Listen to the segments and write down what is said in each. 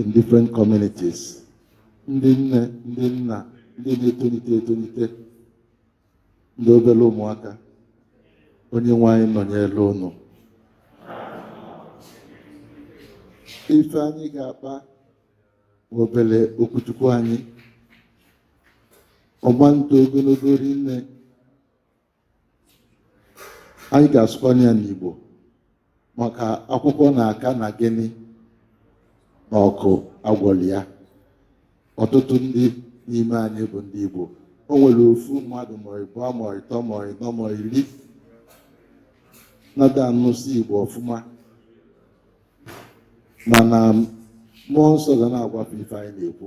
in different communities ndị nne ndị nna ndị na-etonite etonite ndị obere ụmụaka onye nwe anyị nọnyere unu ife anyị ga-akpa obere okwu Chukwu anyị ọ ma-eto ogologo rinne anyị ga-asụkwanye ya n'Igbo maka akwụkwọ na-aka na gịnị na ọkụ agwọli ya ọtụtụ ndị n'ime anyị bụ ndị Igbo o nwere ofu mmadụ ma ịbụọ ma ịtọ ma ịnọ ma iri na-ada anụsị Igbo ọfụma mana mmụọ nsọ ga na-agwa fa ife anyị na-ekwu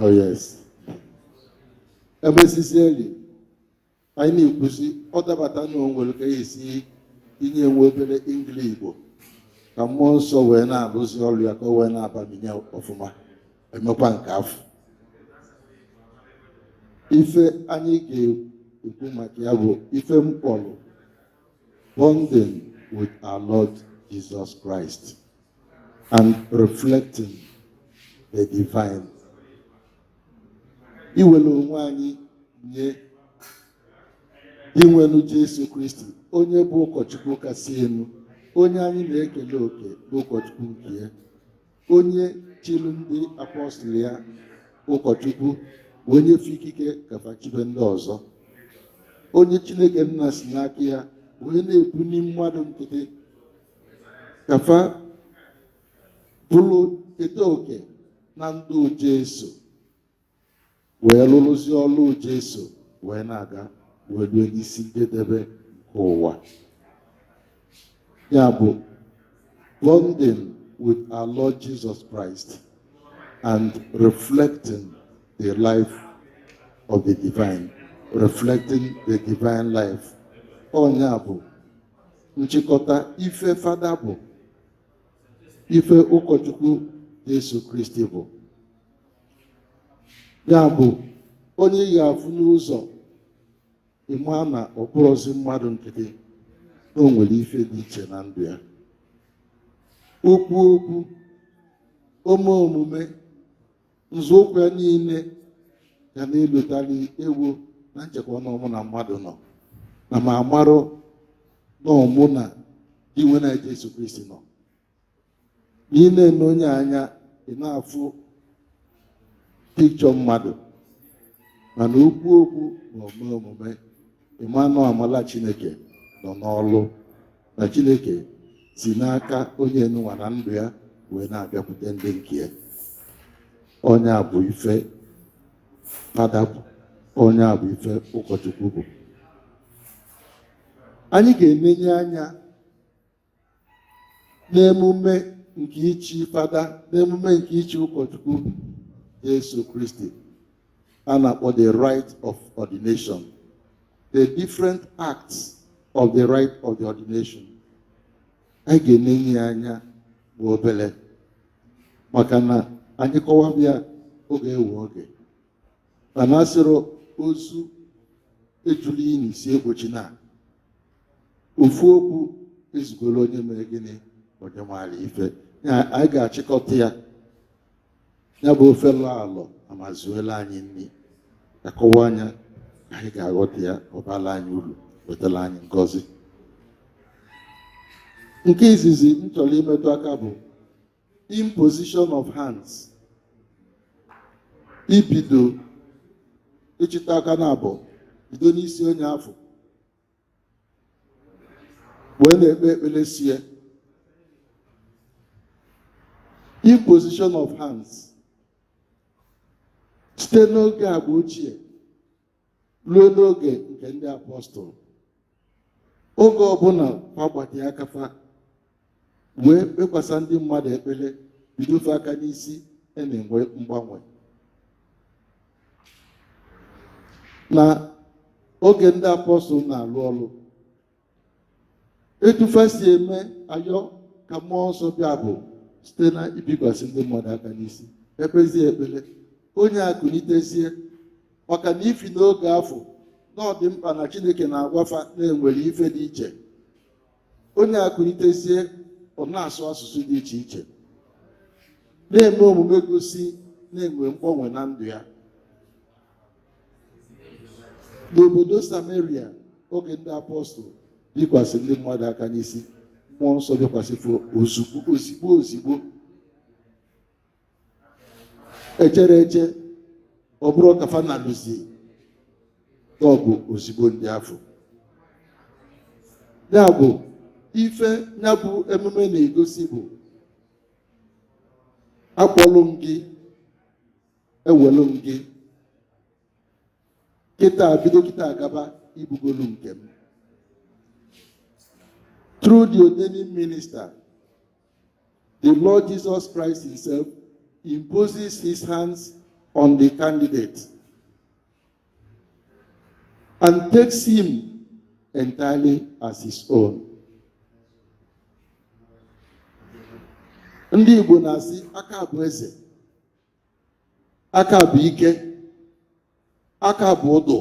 oh yes ebe sisi eri anyị na-ekwusi ọ dabata na o nwere ka e si tinye nwa obere ingili igbo ka mmụọ nsọ wee na-arụzi ọrụ ya ka o wee na-abaminye ọfụma e mekwaa nke afụ ife anyị ga-ekwu maka ya bụ ife m kpọrọ bonding with our Lord Jesus Christ. and reflecting the divine iwere onwe anyị nye Dinwenụ Jesu Kristi onye bụ ụkọchukwu kasị elu onye anyị na-ekele oke bụ ụkọchukwu nke ya onye chiri ndị apọstụl ya ụkọchukwu wee nye fa ikike ka fa chibe ndị ọzọ onye Chineke nna si n'aka ya wee na-ebuli mmadụ nkịtị ka fa bụrụ keta oke na ndụ Jesu wee lụrụzi ọlụ Jesu wee na-aga wee rue n'isi njedebe nke ụwa ya bụ bonding with our Lord Jesus Christ and reflecting the life of the divine reflecting the divine life ọ nya bụ nchịkọta ife fada bụ ife ụkọchukwu Jesu Kristi bụ ya bụ onye ị ga-afụ n'ụzọ ị ma na ọ bụrọzi mmadụ nkịtị na o nwere ife dị iche na ndụ ya o kwuo okwu o mee omume nzọụkwụ ya niile ga na-elotali ebu m na-echekwa na ọ mụ na mmadụ nọ na m amarọ na ọ mụ na Dinwenụ Jesu Kristi nọ na ị na-ene onye anya ị na-afụ picture mmadụ mana o kwuo okwu ma o mee omume ị ma na amala chineke nọ n'ọlụ na chineke si n'aka onye nụnwa na ndụ ya wee na-abịakwute ndị nke ya ọ nya bụ ife fada bụ ọ nya bụ ife ụkọchukwu bụ anyị ga-enenye anya n'emume nke ichi fada n'emume nke ichi ụkọchukwu Jesu Kristi a na-akpọ the rite of ordination the different acts of the rite of the ordination anyị ga-enenye ya anya bụ obele maka na anyị kọwaba ya ọ ga-ewe oge mana asịrọ ozu ejuli ini si ekpochi na ofu okwu ezugoro onye mere gịnị onye maara ife anyị ga-achịkọta ya ya bụ ofe lọ alọ ama ezuela anyị nri a kọwaa nya anyị ga-aghọta ya ọ baala anyị ulu wetala anyị ngọzi nke izizi m chọrọ imetụ aka bụ imposition of hands ibido ịchịta aka naabọ bido n'isi onye afụ wee na-ekpe ekpere si ya imposition of hands site n'oge agba ochie luo n'oge nke ndị apọstụl oge ọbụna fa gbatịa aka fa wee kpekwasa ndị mmadụ ekpele bido fa aka n'isi a na-enwe mgbanwe na oge ndị apọstụl na-alụ ọrụ etu fa si eme ayọ ka mmụọ nsọ bịa bụ site na ibikwasị ndị mmadụ aka n'isi ekpezie ekpele onye a kunitezie maka n'ifi na oge afụ na ọ dị mkpa na chineke na-agwa fa na e nwere ife dị iche onye a kunitezie ọ na-asụ asụsụ dị iche iche na-eme omume gosi na e nwe mgbanwe na ndụ ya n'obodo samaria oge ndị apọstụl bikwasị ndị mmadụ aka n'isi mmụọ nsọ bịakwasị fa ozugbo ozigbo ozigbo echerọ eche ọ bụrụ ka fa na-alụzi ọgụ ozigbo ndị afụ ya bụ ife nya bụ emume na-egosi bụ akpọlụ m gị ewelu m gị kịta bido kịta gaba ị bụgolu nke m through the ordaining minister The Lord Jesus Christ himself imposes his hands on the candidate and takes him entirely as his own. Ndị Igbo na-asị aka bụ eze, aka bụ ike, aka bụ ọdụ,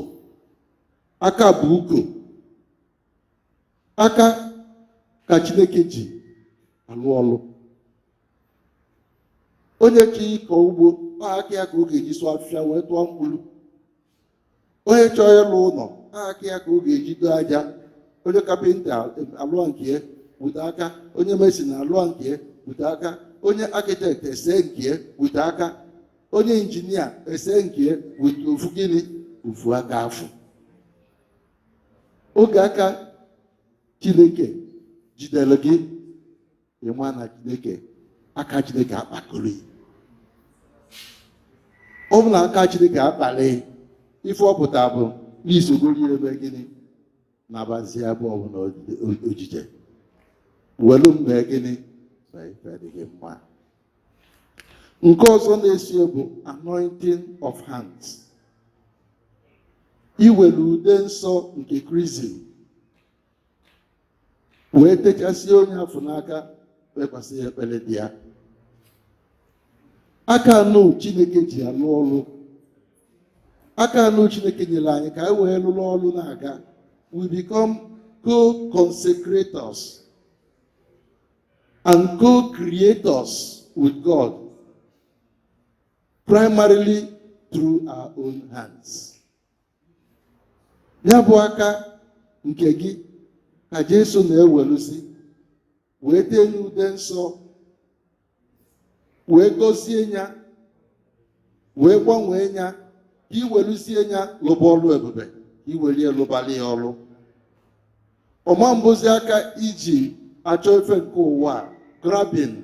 aka bụ uko, aka ka chineke ji alụ ọlụ onye chọọ ịkọ ugbo ọ aka ya ka ọ ga-eji sụọ afịfịa wee tụọ mkpụrụ onye chọọ ịlụ ụnọ ọ aka ya ka ọ ga-eji doo aja onye kapịnta alụọ nke ya wute aka onye mesin alụọ nke ya wute aka onye akịtekt ese nke ya wute aka onye injinia ese nke ya wute ofu gịnị ofu aka afụ oge aka chineke jidelu gị ịma na chineke aka chineke akpakọrọ ọ bụ na aka chineke akpali ife ọ pụta bụ n'isogori ebe gịnị na-abazi abụ ọbụna ojije welu mee gịnị na ife dị gị mma nke ọzọ na-esi bụ anointing of hands iwere ude nsọ nke krizim wee techasịa onye afụ n'aka kpekwasị ya ekpele dị ya aka anụ chineke ji alụ ọrụ aka anụ chineke nyere anyị ka anyị wee lụrụ ọrụ na-aga we become co-consecrators and co-creators with God, primarily through our own hands. Nya bụ aka nke gị ka Jesu na-eweluzi wee tee nya ude nsọ wee gọzie nya wee gbanwee nya ka iweluzie nya lụba ọlụ ebube ka iwelie lụbali ya ọlụ ọ ma-abụzi aka iji achọ ife nke ụwa grabbing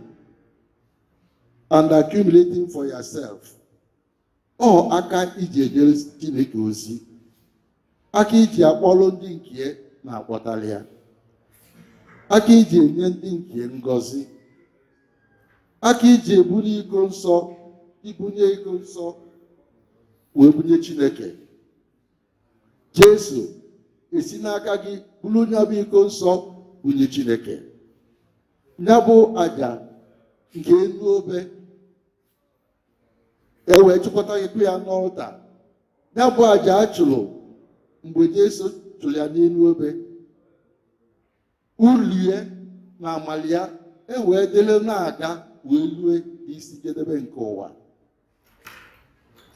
and accumulating for yourself ọ aka iji ejere chineke ozi aka iji akpọrọ ndị nke ya na-akpọtara ya aka iji enye ndị nke ya ngọzi aka iji ebunie iko nsọ ibunie iko nsọ wee bunye chineke Jesu esi n'aka gị buru nya bụ iko nsọ bunye Chineke nya bụ aja nke enu obe e wee chụkọtakwu ya n'ọlta nya bụ aja a chụrụ mgbe Jesu chụrụ ya n'enu obe ulu ya na amala ya e wee dịlị na-aga wee lue isi njedebe nke ụwa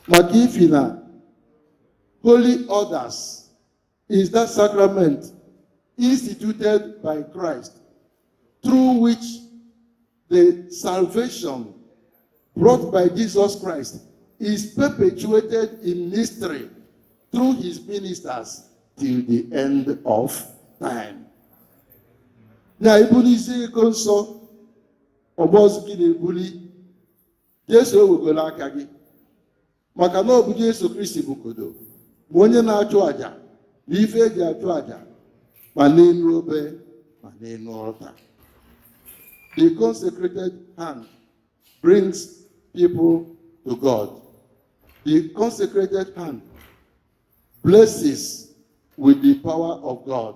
maka ifi na holy orders is that sacrament instituted by Christ through which The salvation brought by Jesus Christ is perpetuated in mystery through his ministers till the end of time. Na ibulizi iko nsọ ọ bụrọzi gị na-ebuli Jesu ewegoro aka gị maka na ọ bụ Jesu Kristi bụkọdo ma onye na-achụ àjà na ife eji achụ àjà ma n'enu obe ma n'enu altar the consecrated hand brings people to God the consecrated hand blesses with the power of God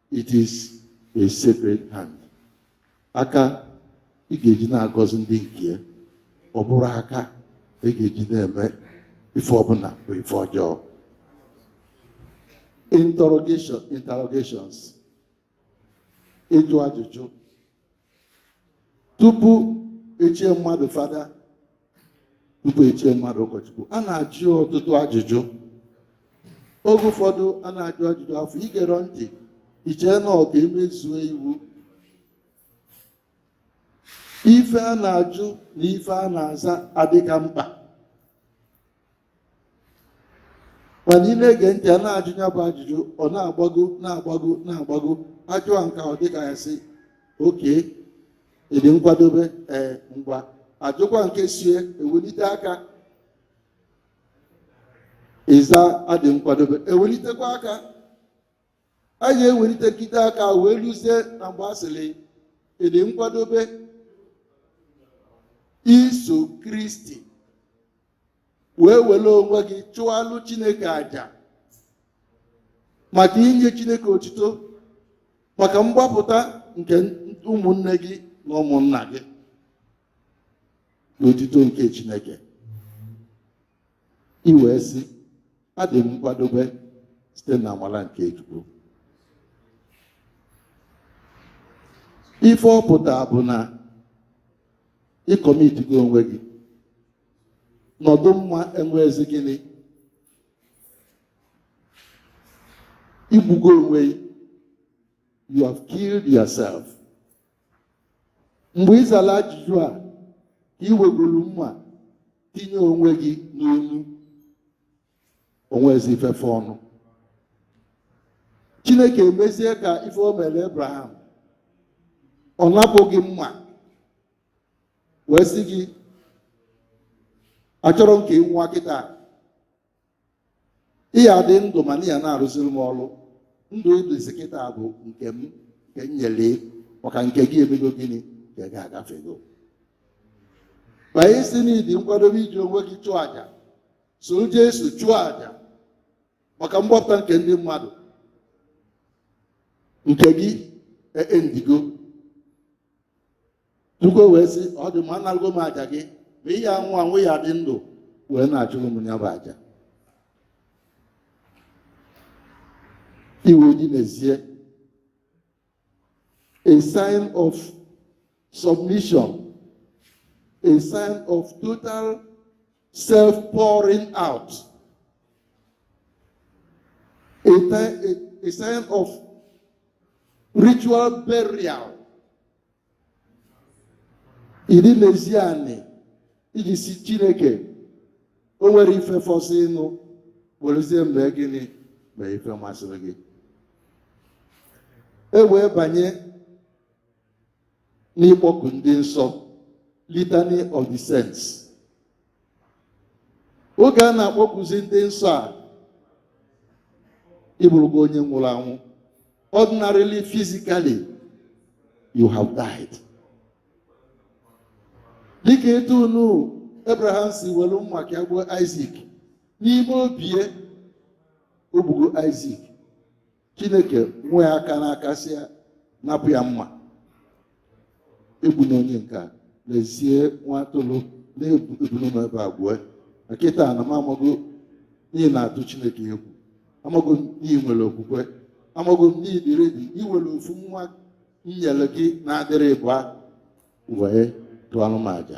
It is a sacred hand. Aka ị ga-eji na-agọzi ndị nke ya, ọ bụrọ aka ị ga-eji na-eme ife ọbụla bụ ife ọjọọ. Interrogations, ịjụ ajụjụ tupu echie mmadụ fada tupu echie mmadụ ụkọchukwu a na-ajụ ọtụtụ ajụjụ oge ụfọdụ a na-ajụ ajụjụ afụ i gerọ ntị i chee na ọ ka e mezuo iwu ife a na-ajụ na ife a na-aza adịka mkpa mana ị na-ege ntị a na-ajụ ya bụ ajụjụ ọ na-agbago na-agbago na-agbago a jụọ nke a ọ dịka ya sị okay ị dị nkwadobe ee ngwa a jụkwa nke eso ya ewelite aka ị za adị m nkwadobe ewelitekwa aka a ga-ewelitekite aka wee luzie na mgbe a sịrị ị dị nkwadobe iso kristi wee were onwe gị chụalụ chineke aja maka inye chineke otito maka mgbapụta nke ụmụnne gị na ụmụnna gị n'otito nke chineke i wee sị adị m nkwadobe site na amara nke Chukwu ife ọ pụta bụ na ị commitigo onwe gị nọdụ mma enwezi gịnị igbugo onwe you have killed yourself mgbe ị zara ajụjụ a ka ị wegoro mma tinye onwe gị n'onu o nwezi ife fọọnụ chineke emezie ka ife o mere abraham ọ napụ gị mma wee sị gị achọrọ m ka ị nwụọ kịta ị ya-adị ndụ mana ị ya na-arụziri m ọrụ ndụ ị dịzi kịta bụ nke m nke m nyere maka nke gị emego gịnị nke gị agafego mana ị sị na ị dị nkwadobe iji onwe gị chụọ aja soro Jesu chụọ aja maka mgbapụta nke ndị mmadụ nke gị endigo Chukwu wee sị ọ dị mma anarago m aja gị ma ị ya-anwụ anwụ ị ya-adị ndụ wee na-achụrụ m ya bụ aja ị wee dinezie a sign of submission a sign of total self pouring out a, a, a sign of ritual burial idinezi anị iji sị chineke o nwere ife fọzịịnụ werezie m mee gịnị mee ife masịrị gị e wee banye n'ịkpọku ndị nsọ litany of the saints oge a na-akpọkuzi ndị nsọ a ị bụrụgo onye nwụrụ anwụ ordinarily physically you have died dịka etu unu abraham si were mma ka ya gbuo Isaac n'ime obie o gbugo Isaac chineke nwe ya aka n'aka sị ya napụ ya mma egbuna onye nke a lezie nwa atụrụ na ebunu nọ ebe a gbue na kịta na m amago na ị na-atụ chineke egwu amago m na ị nwere okwukwe amago m na ị dị ready iwere ofu nwa m nyere gị na-adịrọ ịbụa wee chụọrọ m aja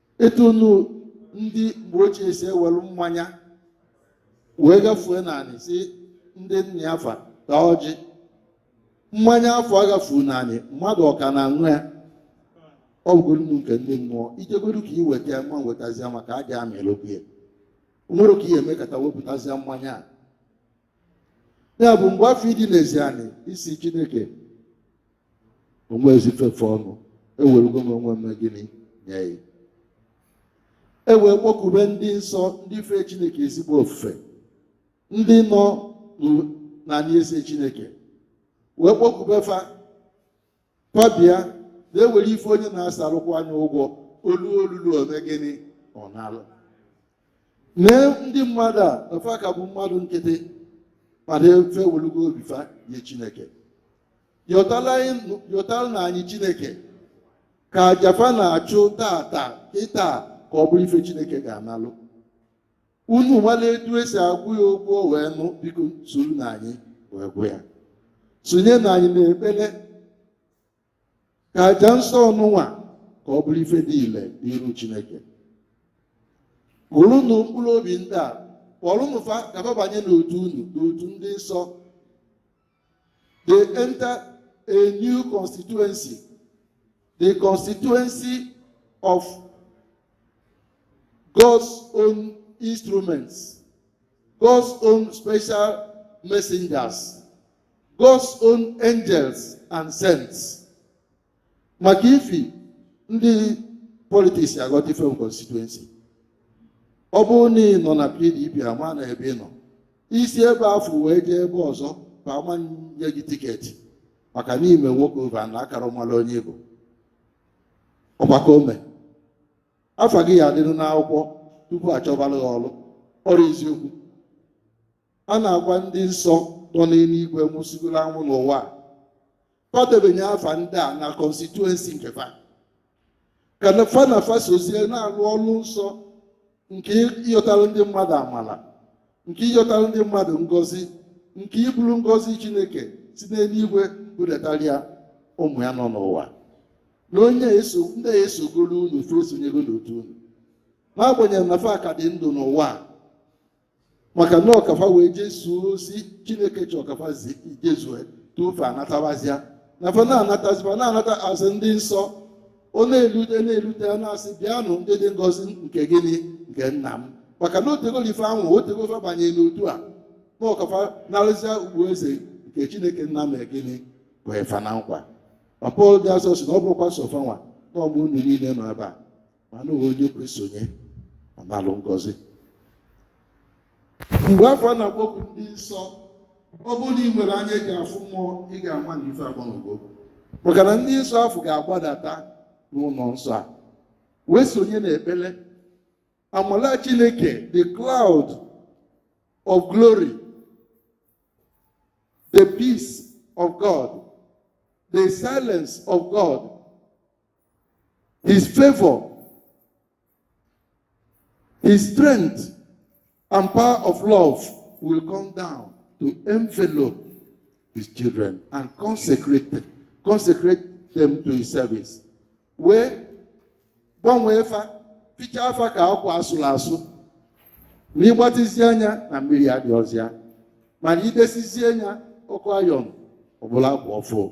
etu unu ndị mgbe ochie si ewelu mmanya wee gafue n'anị sị ndị nna ya fa taa ọjị mmanya afụ a gafuu n'anị mmadụ ọ ka na-aṅụ ya ọ bụgoronụ nke ndị mmụọ i jegodu ka ị weta ya ị ma wetazi ya maka aja amịlokwu ya o nwere ka ị ya-emekata wepụtazia mmanya a ya bụ mgbe afụ ị dinezi anị ị sị chineke o nwezi ife fe ọnụ ewerugo m onwe m mee gịnị nye ya e wee kpọkube ndị nsọ ndị fee chineke ezigbo ofufe ndị nọ n'ala eze chineke wee kpọkube fa fa bịa na-ewere ife onye na-asarụkwa anya ụgwọ ọlụ ọ lụlụ o me gịnị ọ nalụ lee ndị mmadụ a na fa ka bụ mmadụ nkịtị mana fa ewelugo obi fa nye chineke yọtaranụ anyị chineke ka aja fa na-achụ taata kịta ka ọ bụrụ ife chineke ga-analụ unu malụ etu e si agwụ ya ukwe ọnụ biko soronụ anyị wee gwụ ya sonyenụ anyị n'ekpele ka aja nsọ ọnụnwa ka ọ bụrụ ife dị ile n'iru Chineke burunụ mkpụrụ obi ndị a kpọrụnụ fa ka fa banye n'otu unu n'otu ndị nsọ they enter a new constituency the constituency of God's own instruments God's own special messengers God's own angels and saints maka ifi ndị politics aghọta ife constituency ọ bụrụ na ị nọ na PDP a ma na ebe ị nọ i si ebe afụ wee jee ebe ọzọ fa ama nye gị ticket maka na i me walk over na akara mara onye Igbo ọgbakọ ome afa gị ya adịrị n'akwụkwọ tupu a chọbara gị ọrụ ọ bụrọ eziokwu A na-agwa ndị nsọ nọ n'eluigwe nwụsịgoro anwụ n'ụwa a ka fa debanye afa ndị a na constituency nke fa ka na fa na fa sozie na-alụ ọrụ nsọ nke ịyọtara ndị mmadụ amara nke ịyọtara ndị mmadụ ngọzi nke iburu ngọzi chineke si n'eluigwe budatara ya ụmụ ya nọ n'ụwa na onye eso ndị a esogoro unu fa esonyego n'otu unu n'agbanyeghị na fa ka dị ndụ n'ụwa a maka na ọ ka fa wee jezuo ozi chineke chọ ka fa jezue tupu fa anatabazia na fa na-anataziba na-anata a sị ndị nsọ ọ na-elute na-elute ya na-asị bịanụ ndị dị ngọzi nke gịnị nke nna m maka na o tegolo ife ahụ o tego fa banye n'otu a na ọ ka fa narụzia okpu eze nke chineke nna mere gịnị kwe fa na nkwa ma pọl dị asọ sị na ọ bụrọkwa sọ fanwa na ọ bụ unu niile nọ ebe a mana onye kwe sonye ọ nalụ ngọzi mgbe afụ a na-akpọku ndị nsọ ọ bụrụ na ị nwere anya ị ga-afụ mmụọ ị ga-ama na ife agbanwego maka na ndị nsọ afụ ga-agbadata n'ụnọ nsọ a wee sonye n'ekpele amala chineke the cloud of glory the peace of god the silence of god His favor, His strength, and power of love will come down to envelop His children and consecrate them to His service. Wee gbanwee fa, fichaa fa ka akwa asụrụ asụ. Ma ịgbatịzie anya na mmiri adịrọzi ya. Mana idesizie anya ọkụ ayọn ọ bụlụ akwa ọfụụ.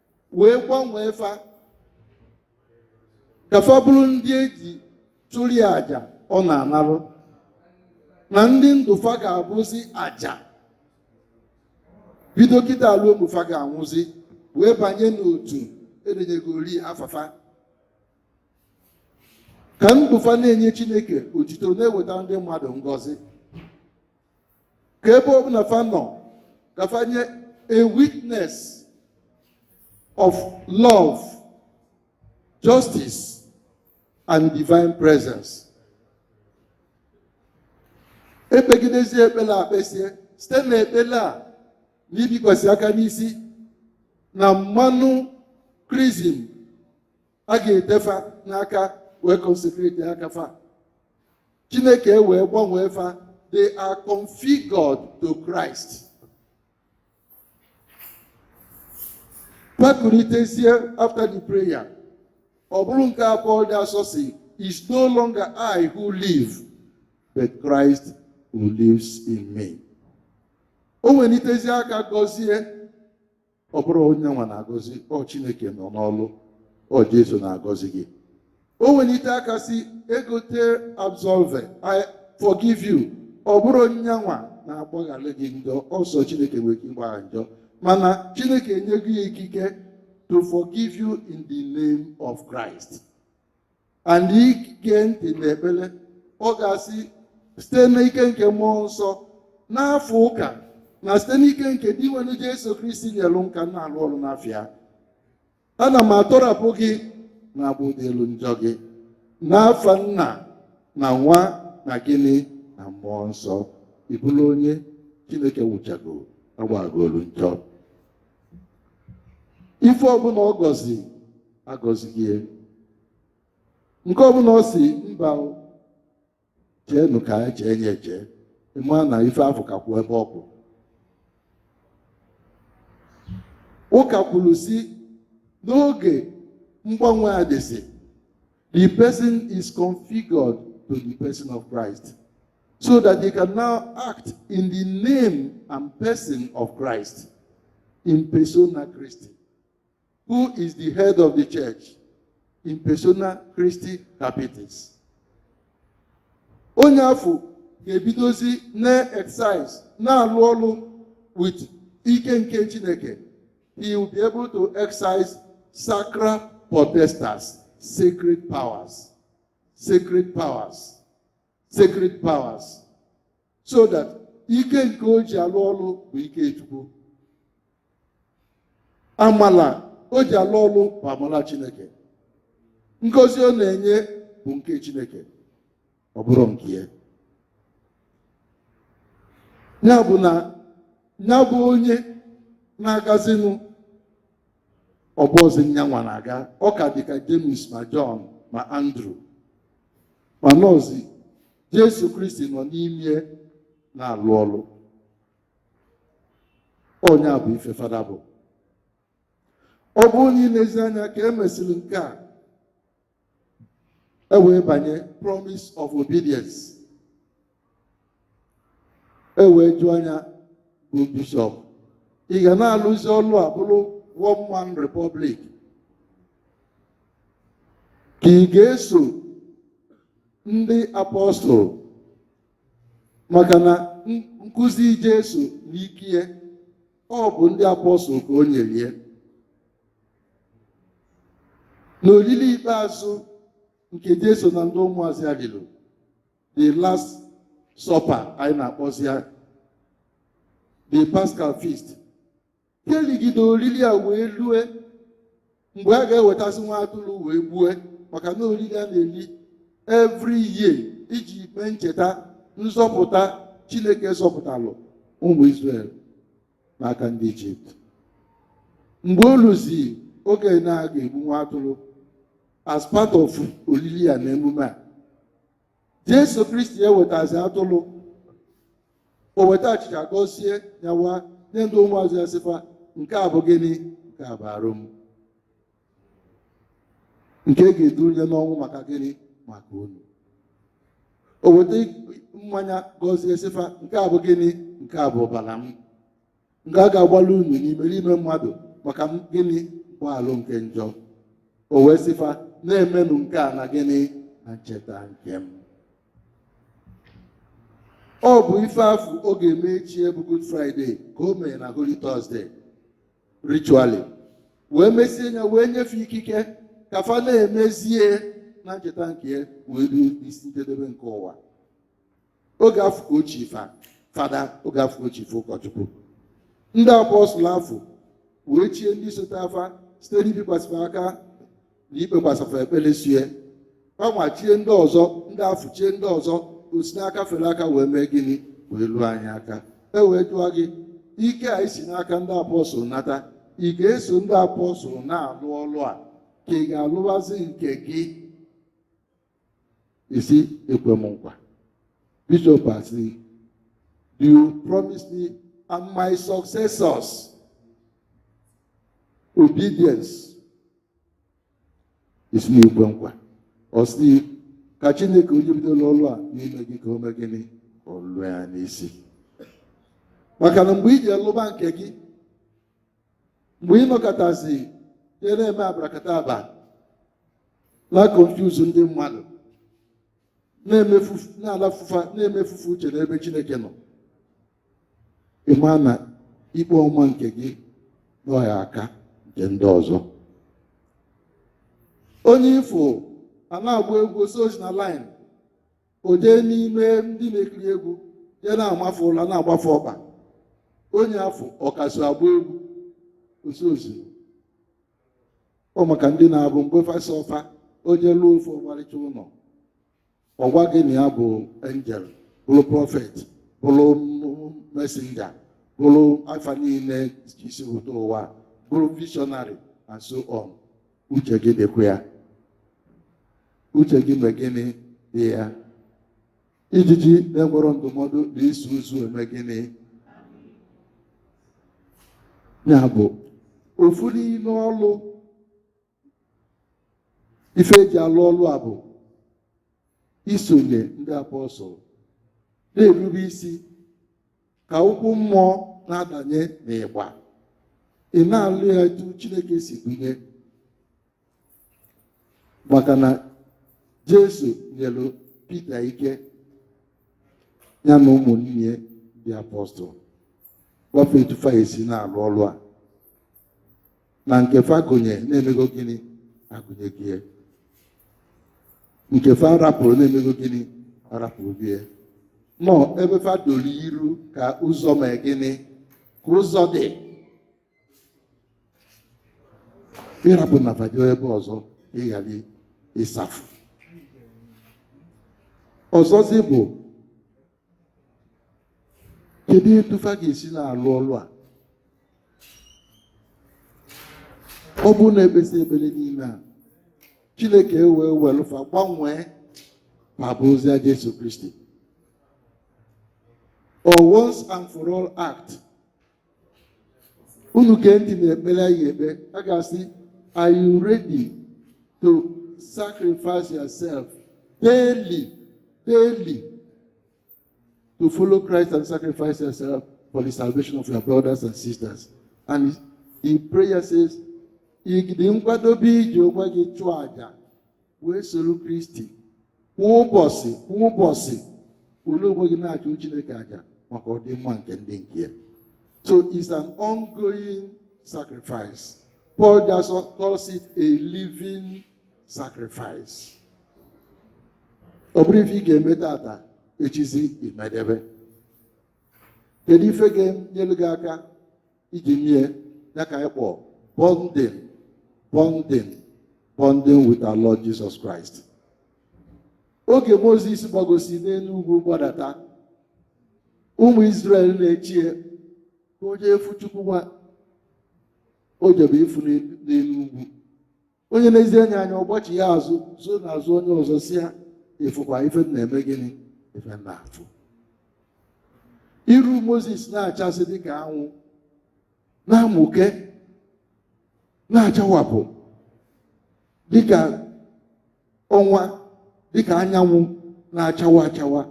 wee gbanwee fa ka fa bụrụ ndị eji chụrụ ya aja ọ na-anarụ na ndị ndụ fa ga-abụzi aja bido kịta lue mgbe fa ga-anwụzi wee banye n'otu edenyegori afa fa ka ndụ fa na-enye chineke otito na-eweta ndị mmadụ ngọzi ka ebe ọbụla fa nọ ka fa nye a witness of love justice and divine presence e kpegidezie ekpele a kpesie site na ekpele a na ibikwasị aka n'isi na mmanụ krizim a ga-ete fa n'aka wee consecrate aka fa chineke wee gbanwee fa they are configured to Christ fa kulitezie after the prayer ọ bụrụ nke a Paul dị asọ sị it's no longer I who live but Christ who lives in me o welitezie aka gọzie ọ bụrọ nya nwa na-agọzi ọ chineke nọ n'ọlụ ọ jesu na-agọzi gị o welite aka sị ego te absolvo i forgive you ọ bụrọ nya nwa na-agbaghalụ gị njọ ọ sọ chineke nwere ike ịgbagha njọ mana chineke enyego ya ikike to forgive you in the name of christ and i gee ntị n'ekpele ọ ga-asị site n'ike nke mmụọ nsọ n'afa ụka na site n'ike nke Dinwenụ Jesu Kristi nyelụ m ka m na-alụ ọrụ n'afa ya ana m atọrapụ gị na-agbaghalụ njọ gị n'afa nna na nwa na gịnị na mmụọ nsọ ị bụlụ onye Chineke wụchago agbaghalụ njọ ife ọbụla ọ gọzi agọzigo ya nke ọbụla ọ sị mba o, cheenụ ka anyị chee nye chee ị ma na ife afụ ka kwụ ebe ọ kwụ ụka kwuru sị n'oge mgbanwe a dịsị the person is configured to the person of Christ so that they can now act in the name and person of Christ in persona Christi who is the head of the church in persona Christi Capitis. Onye afụ ga-ebidozi na-exercise na-alụ ọlụ with ike nke Chineke. He will be able to exercise sacra potestas, sacred powers, sacred powers. sacred powers so that ike nke o ji alụ ọlụ bụ ike chukwu amala o ji alụ ọlụ bụ amala chineke ngozi ọ na-enye bụ nke chineke ọ bụrọ nke ya ya bụ na ya bụ onye na-agazinụ ọ bụrọzi nyanwa na-aga ọ ka dị ka James ma John ma Andrew mana ọọzi Jesu Kristi nọ n'ime na-alụ ọlụ ọ nya bụ ife fada bụ ọ bụrụ na i lezi anya ka e mesịrị nke a e wee banye promise of obedience e wee jụọ ya nya bụ bishọp ị ga na-alụzi ọlụ a bụrụ one man republic ka ị ga-eso ndị apọstụl maka na n- nkụzi Jesu n'ike ya ọ bụ ndị apọstụl ka o nyere ya n'olili ikpeazụ nke Jesu na ndị ụmụazụ ya lili the last supper anyị na-akpọzi ya the Paschal feast ka e ligide olili a wee lue mgbe a ga-ewetazi nwa atụrụ wee gbue maka na olili a na-eli every year iji mee ncheta nzọpụta Chineke zọpụtalụ ụmụ Israel n'aka ndị ijipt mgbe o luzi oge na a ga-egbu nwa atụrụ as part of olili a na emume a jesu kristi ewetazi atụrụ o weta achịcha gọzie nyawa nye ndị ụmụazụ ya sị fa nke a bụ gịnị nke a bụ arụ m nke e ga-edunye n'ọnwụ maka gịnị maka unu o weta mmanya gọzie sị fa nke a bụ gịnị nke a bụ ọbara m nke a ga-agbalụ unu na imerime mmadụ maka gịnị mgbaghalụ nke njọ o wee sị fa na-emenụ nke a na gịnị na ncheta nke m ọ bụ ife afụ ọ ga-eme echi bụ Good Friday ka o mere na Holy Thursday ritually wee mesie ya wee nye fa ikike ka fa na-emezi ya na ncheta nke ya wee ruo isi njedebe nke ụwa oge afụ ka o chiri fa fada oge afụ ka o chiri fa ụkọchukwu ndị apọstụl afụ wee chie ndị sotere fa site n'ibikwasị fa aka na ikpekwasị fa ekpere sie fanwa chie ndị ọzọ ndị afụ chie ndị ọzọ o si n'aka fere aka wee mee gịnị wee luo anyị aka e wee jụọ gị ike a i si n'aka ndị apọstụl nata ị ga-eso ndị apọstụl na-alụ ọlụ a ka ị ga-alụwazi nke gị ị sị ekwe m nkwa bishop asị do you promise me and my successors obedience ị sị na i kwe nkwa ọ sị ka chineke onye bidoro ọlụ a n'ime gị ka o mee gịnị ka ọ lụọ ya n'isi maka na mgbe i jee lụba nke gị mgbe ị nọkatazi jee na-eme abarakataba na confuse ndị mmadụ na-alafu fa na-emefu fa uche n'ebe Chineke nọ ị ma na ikpe ọmụma nke gị na ọ ga-aka nke ndị ọzọ onye ị fụ a na-agba egwu o sozi na line o jee n'ime ndị na-ekiri egwu jee na-ama fa ụla na-agba fa ọkpa onye afụ ọ ka so agba egwu o sozi ọ maka ndị na-abụ mgbe fa sa ọfa onye lụọ ofu ọmarịcha ụnọ ọ gwa gị na ya bụ angel bụrụ prọfet bụrụ mesenja bụrụ afa niine isi ụtọ ụwa bụrụ vishọnarị and so on uche gị dịkwa ya uche gị mee gịnị dị ya Ijiji na-enwero ndụmọdụ na-eso ozu eme gịnị ya bụ ofu n'ime ọlụ ife e ji alụ ọlụ a bụ isonye ndị apọstụl na-erube isi ka ụkwụ mmụọ na-adanye n'ịgba ị na-alụ ya etu Chineke si dunye maka na jesu nyelu pita ike ya na ụmụnne ya ndị apọstụl gwa fa etu fa esi na-alụ ọlụ a na nke fa gụnye na-emego gịnị agụnyego ya. nke fa rapụrụ na-emego gịnị arapụrụgo ya. nọ ebe fa doro iru ka ụzọ mee gịnị ka ụzọ dị ịrapụ na fa jee ebe ọzọ ịgharị ịsafụ ọzọzi bụ kedu etu fa ga-esi na-alụ ọlụ a ọ bụrọ na ekpesịa ekpere niile a chineke ewee welụ fa gbanwee ma bụzia Jesu Kristi or once and for all act unu gee ntị na ekpere anyị ekpe a ga-asị are you ready to sacrifice yourself daily daily to follow Christ and sacrifice yourself for the salvation of your brothers and sisters and the prayer says ị ga-adị nkwadobe iji onwe gị chụọ aja wee soro kristi kwa ụbọsị kwa ụbọsị welu onwe gị na-achụ chineke aja maka ọdịmma nke ndị nke ya so it's an ongoing sacrifice paul just calls it a living sacrifice ọ bụrọ ife ị ga-eme tata echizi i medebe kedu ife ga-enyelu gị aka iji mee ya ka anyị kpọ bonding bonding bonding with our Lord Jesus Christ oge Mozis gbagosịa n'elu ugwu gbadata ụmụ Izrel na-eche ya ka o jee fụ Chukwu nwa o jebe ịfụ n'enu ugwu onye nezie ya anya ọ gbachie azụ zoo n'azụ onye ọzọ sị ya ị fụkwa ife m na-eme gịnị ife m na-afụ iru moses na-achasị dịka anwụ na-amụke na-achawapụ dịka ọnwa dịka anyanwụ na-achawa achawa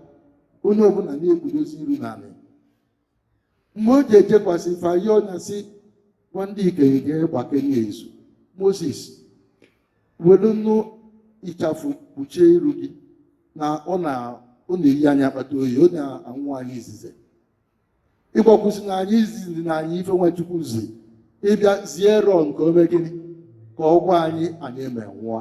onye ọbụna na-ekpudozi iru n'anị mgbe o ji ejekwasị fa yọọ nya sị gwa ndị ikenye ga-agbakenye izu moses welunụ ịchafụ kpuchie iru gị na ọ na-eyi anyị akpata oyi ọ na-anwụ anyị izize ị gwakwazina anyị i zizina anyị ife nwa chukwu zi ị bịa zie erọn ka o mee gịnị ka ọ gwa anyị anyị eme nwụọ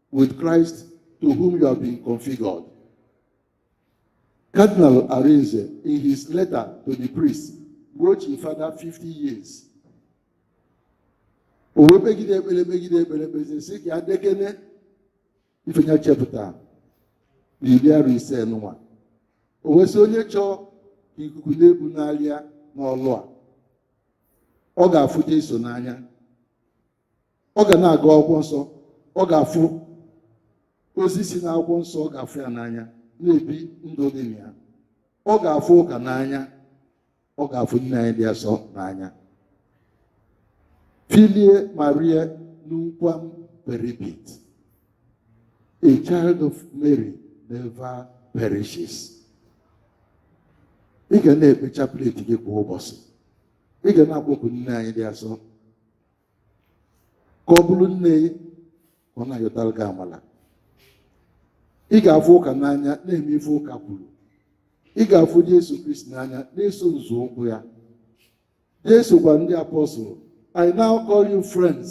with Christ to whom you have been configured. Cardinal Arinze, in his letter to the priest, mgbe o chi father 50 years. O wee kpegide ekpele kpegide ekpele kpezie sị ka adekene ife nya chepụta na iri arọ ise nụwa. O wee sị onye chọọ ka ikuku na-ebunalị ya n'ọlụ a, ọ ga-afụ Jesu n'anya. ọ ga na-agụ akwụkwọ nsọ ọ ga-afụ ozi si n'akwụkwọ nsọ ọ ga-afụ ya n'anya na-ebi ndụ dị na ya ọ ga-afụ ụka n'anya ọ ga-afụ nne anyị dị asọ n'anya filie Mariae nunquam peribit a child of Mary never perishes ị ga na-ekpe chapleti gị kwa ụbọsị ị ga na-akpọku nne anyị dị asọ ka ọ bụrụ nne gị ka ọ na-ayọtara gị amala ị ga-afụ ụka n'anya na-eme ife ụka kwuru ị ga-afụ Jesu Kristi n'anya na-eso nzọụkwụ ya Jesu gwa ndị apọstụl I now call you friends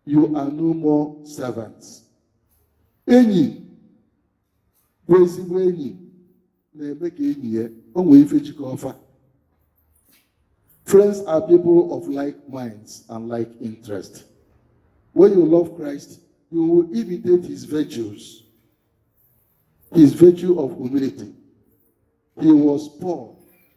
you are no more servants enyi bụ ezigbo enyi na-eme ka enyi ya o nwee ife jikọ ọfa friends are people of like minds and like interest when you love christ you will imitate his virtues his virtue of humility he was poor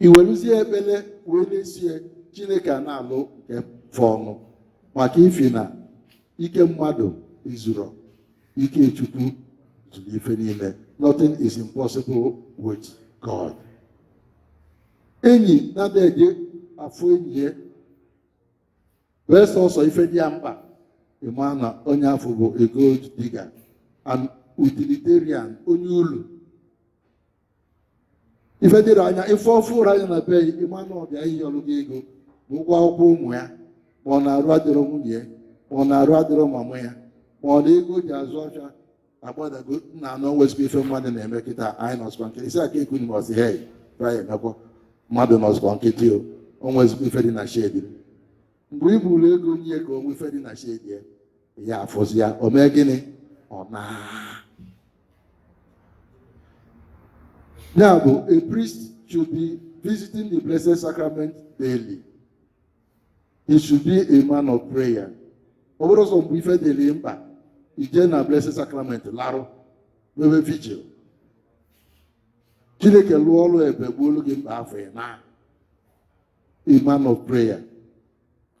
i weruzie ekpere wee na-esie chineke a na-alụ nke fọnụ maka ifi na ike mmadụ ezuro ike chukwu zuru ife niile nothing is impossible with god enyi na-adị eje afụ enyi ya bee sọsọ ife dị ya mkpa ị ma na onye afụ bụ a gold digger an utilitarian onye ulu ife dịrị anya ife ọ fụrụ anya na be gị ị ma na ọ bịa ịyọlụ gị ego ma ụgwọ akwụkwọ ụmụ ya ma ọ na arụ adịrọ nwunye ya ma ọ na arụ adịrọ mama ya ma ọ na ego ji azụ ọcha agbadago nnaa o nwezikwa ife mmadụ na-eme kịta anyị nọsịkwa nkịtị isi aka ekwu ma ọ sị hei taya emekwa mmadụ nọsịkwa nkịtị o o nwezikwa ife dị na shedi mgbe i buru ego nye ya ka o nwe ife dị na shedi ya ị ya-afụzi ya o mee gịnị ọ naa ya bụ a priest should be visiting the blessed sacrament daily he should be a man of prayer ọ bụrụ sọ mgbe ife dịrị mkpa i je na blessed sacrament larụ mewe vigil chineke lụọ ọrụ ebube gboolu gị mkpa afụ ị naa a man of prayer.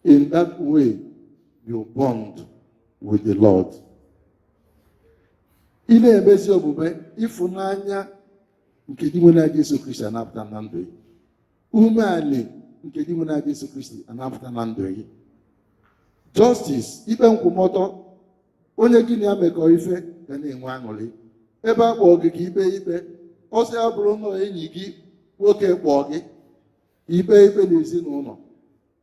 In that way, you bond with the Lord. Ị na-emezi omume ịfụnanya nke Dinwenụ anyị Jesu Kristi ana-apụta na ndụ gị. Umeanị nke Dinwenụ anyị Jesu Kristi ana-apụta na ndụ gị. Justice, ikpe nkwụmọtọ, onye gị na ya mekọ ife ga na-enwe aṅụrị. Ebe a kpọọ gị ka i kpee ikpe, ọ sị ya bụrụ na enyi gị nwoke kpọọ gị ikpe ikpe n'ezinụlọ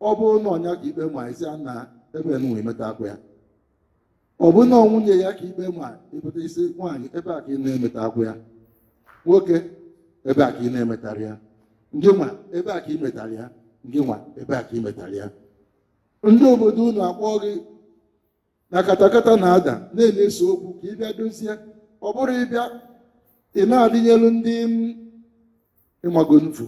ọ bụrụ na ọ nya ka ikpe ma ị sị na ebe nụnwa ị metakwa ya ọ bụ na nwunye ya ka ikpe ma ị pụta ị sị nwaanyị ebe a ka ị na-emetakwa ya nwoke ebe a ka ị na-emetara ya ndị nwa ebe a ka ị metara ya ndị nwa ebe a ka ị metara ya ndị obodo unu akpọọ gị na katakata na-ada na a na-ese okwu ka ị bịa dozie ọ bụrọ ị bịa ị na-adịnyelu ndị m ị mago nfu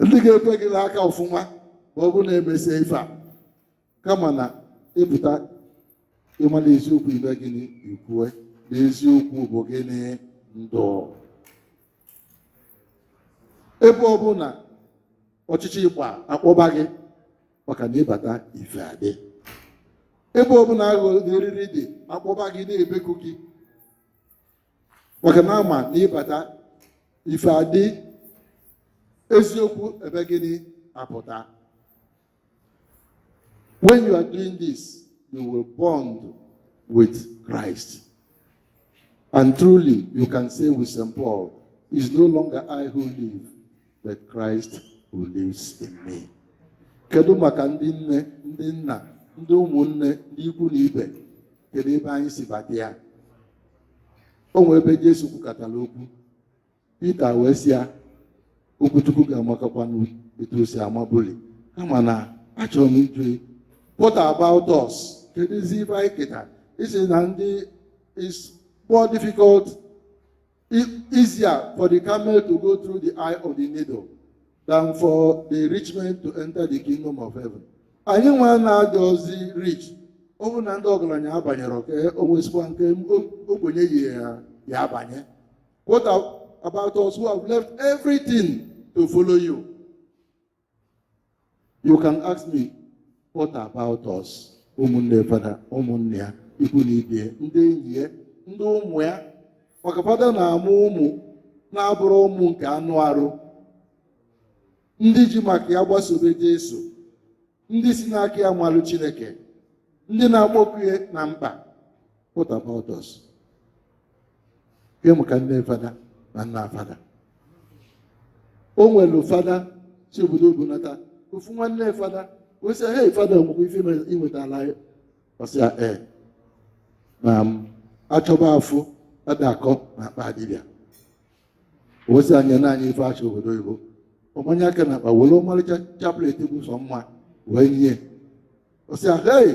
ndị ga-ekwe gị n'aka ọfụma ma ọ bụrụ na e mesie ife a kama na ị pụta ị mala eziokwu i mee gịnị i kwue na eziokwu bụ gịnị ndụ ebe ọ bụna ọchịchịrị gbaa a kpọba gị maka na ị bata ife adị ebe ọ bụna aghụghọ na eriri dị a kpọba gị na-ebeku gị maka na a ma na ị bata ife adị eziokwu emee gịnị apụta When you are doing this, you will bond with Christ. And truly, you can say with St. Paul, It's no longer I who live, but Christ who lives in me. Kedu maka ndị nne, ndị nna, ndị ụmụnne, ndị ikwu na ibe, kedu ebe anyị si bata ya? O nwere ebe Jesu kwukatara okwu Pita wee sị ya okwu Chukwu ga-amakakwanụ etu o si amabuli kama na achọrọ m ịjụ gị, what about us keduzi ife anyị keta ị sị na ndị is more difficult e- easier for the camel to go through the eye of the needle than for the rich man to enter the kingdom of heaven anyị nwa na-adịrọzi rich ọ bụrụ na ndị ọgaranya abanyerọ ka o nwezikwa nke ogbenye yi ya ya abanye What about us who have left everything to follow you? You can ask me, what about us? ụmụnne fada ụmụnne ya ikwu na ibe ya ndị enyi ya ndị ụmụ ya maka fada na-amụ ụmụ na-abụrọ ụmụ nke anụ arụ ndị ji maka ya gbasobe Jesu ndị si n'aka ya malụ chineke ndị na-akpọku ya na mkpa what about us ke maka nne fada na nna fada o nwere fada si obodo oyibo nata ofu nwanne fada wee sị hey fada nwekwa ife ime- i nwetaala ya ọ sị ya ee na m achọba afụ ada akọ na akpa dibịa ọ sị ya nyenụ anyị ife achị obodo oyibo ọ manye aka na akpa were ọmalịcha chaplet bụ sọ mma wee nye ọ sị ya hey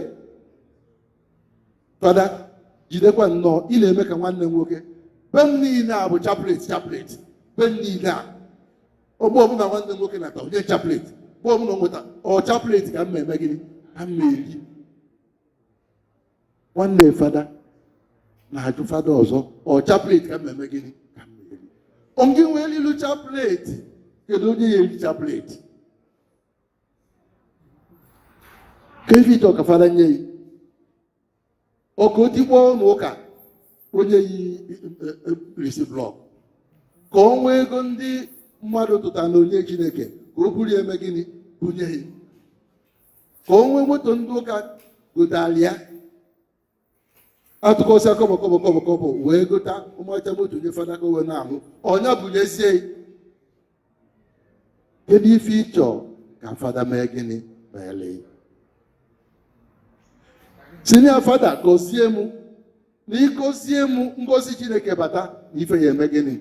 fada jidekwa nnọọ ị na-eme ka nwanne m nwoke be m niile a bụ chaplet chaplet be m niile a oge ọbụla nwanne m nwoke nata o nye chaplet mgbe ọbụla ọ nweta ọ chaplet ka m ya eme gịnị ka m ya eri nwanne fada na-ajụ fada ọzọ ọ chaplet ka m ya eme gịnị ka m ya eri onye nwee ilu chaplet kedu onye ya eri chaplet ke ife ịchọ ka fada nye yi ọ ka o tikpọ ụnọ ụka o nye yi risi blọk ka ọ nwee ego ndị mmadụ tụta na onyinye chineke ka o buru eme gịnị bunye yi ka o nwee moto ndị ụka gotara ya atụkọsịa kọbọ kọbọ kọbọ kọbọ wee gota ọmalịcha moto nye fada ka o wee na-alụ ọ nya bunyezie yi kedu ife ịchọ ka fada mee gịnị meele yi sịnụ ya fada gọzie m na ị gọzie m ngọzi chineke bata na ife ya eme gịnị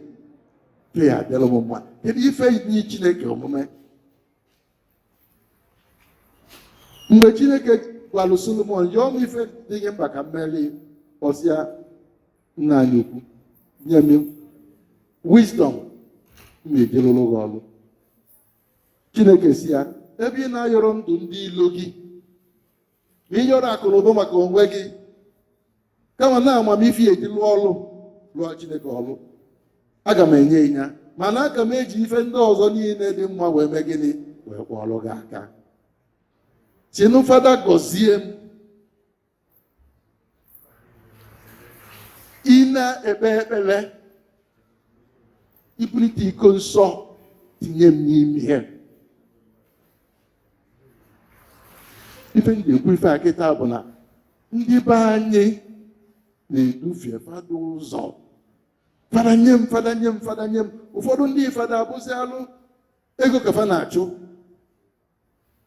ife ya adịlụ m mma kedu ife nyị chineke omume mgbe chineke gwalụ solomon yọọ m ife dị gị mkpa ka m meere yi ọ sị ya nna anyị ukwu nye m wisdom m ya eji lụọrụ gị ọrụ chineke sị ya ebe ị na-ayọrọ ndụ ndị ilo gị ma ị yọrọ akụ na ụba maka onwe gị kama na amamife ị ya eji lụọ ọrụ lụọ chineke ọrụ aga m enye yi ya mana aga m eji ife ndị ọzọ niile dị mma wee mee gịnị wee kwọọlụ gị aka sịnụ fada gọzie m ị na-ekpe ekpere i bulite iko nsọ tinye m n'ime ya ife m ji ekwu ife a kịta bụ na ndị be anyị na-edufie fada ụzọ fada nye m fada nye m fada nye m ụfọdụ ndị fada abụzi alụ ego ka fa na-achụ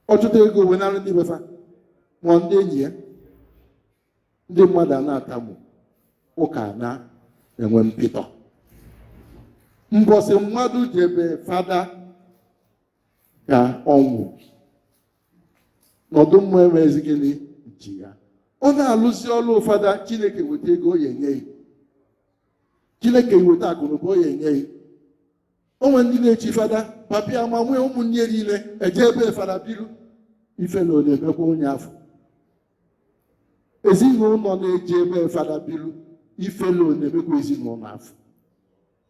ọ chụta ego wee naalụ ndị be fa ma ndị enyi ya ndị mmadụ a na-atamu ụka na-enwe mpịtọ mbọsị mmadụ je be fada ka ọnwụ nọdụ mma enwezi gịnị ji ya ọ na-alụzi ọrụ fada chineke weta ego o ya enye ya chineke weta akụnụba o ya enye ya o nwe ndị na-echi fada papa ya ma nne ya ụmụnne niile eje ebe fada biru ife na ọ na-emekwa onye afọ ezinụlọ na-eje ebe fada biru ife na ọ na-emekwa ezinụlọ afọ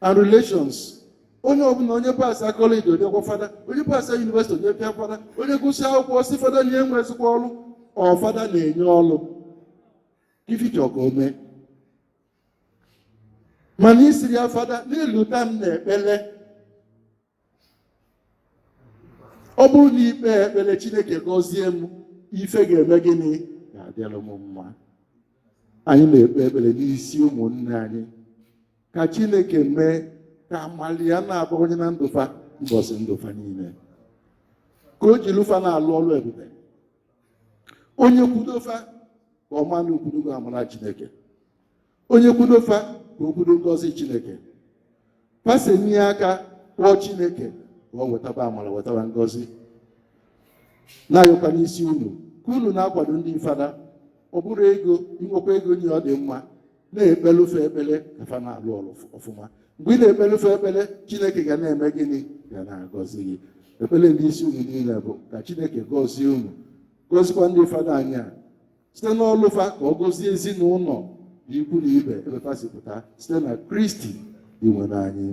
and relations onye ọbụla onye pasa kọleji o dekwa fada onye pasa yunivesiti o dekwa fada onye gụsịa akwụkwọ sị fada na enwezikwa ọrụ ọ fada na-enye ọrụ ife ị chọ ka o mee mana ị sịrị ya fada na-elota m n'ekpele ọ bụrụ na i kpee ekpere chineke gọzie m ife ga-eme gịnị ga-adịrị m mma anyị na-ekpe ekpere n'isi ụmụnne anyị ka chineke mee ka amala ya na-abawanye na ndụ fa mbọsị ndụ fa niile ka o jiri fa na-alụ ọrụ ebube onye kwudo fa ka ọ ma na o kwudogo amara chineke onye kwudo fa ka o kwudo ngọzi chineke fa senie aka kpọọ chineke ka ọ wetaba amara wetaba ngọzi na-ayọkwa n'isi unu ka unu na-akwado ndị fada ọ bụrụ ego i nwekwa ego nye ọ dị mma na-ekpelu fa ekpele ka fa na-alụ ọrụ ọfụma mgbe ị na-ekpelu fa ekpele chineke ga na-eme gịnị ga na-agọzi gị ekpele m n'isi unu niile bụ ka chineke gọzie unu gọzikwa ndị fada anyị a site n'ọlụ fa ka ọ gọzie ezinụlọ na ikwu na ibe ebe fa si pụta site na kristi dinwenụ anyị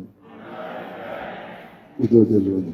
udo dịrị unu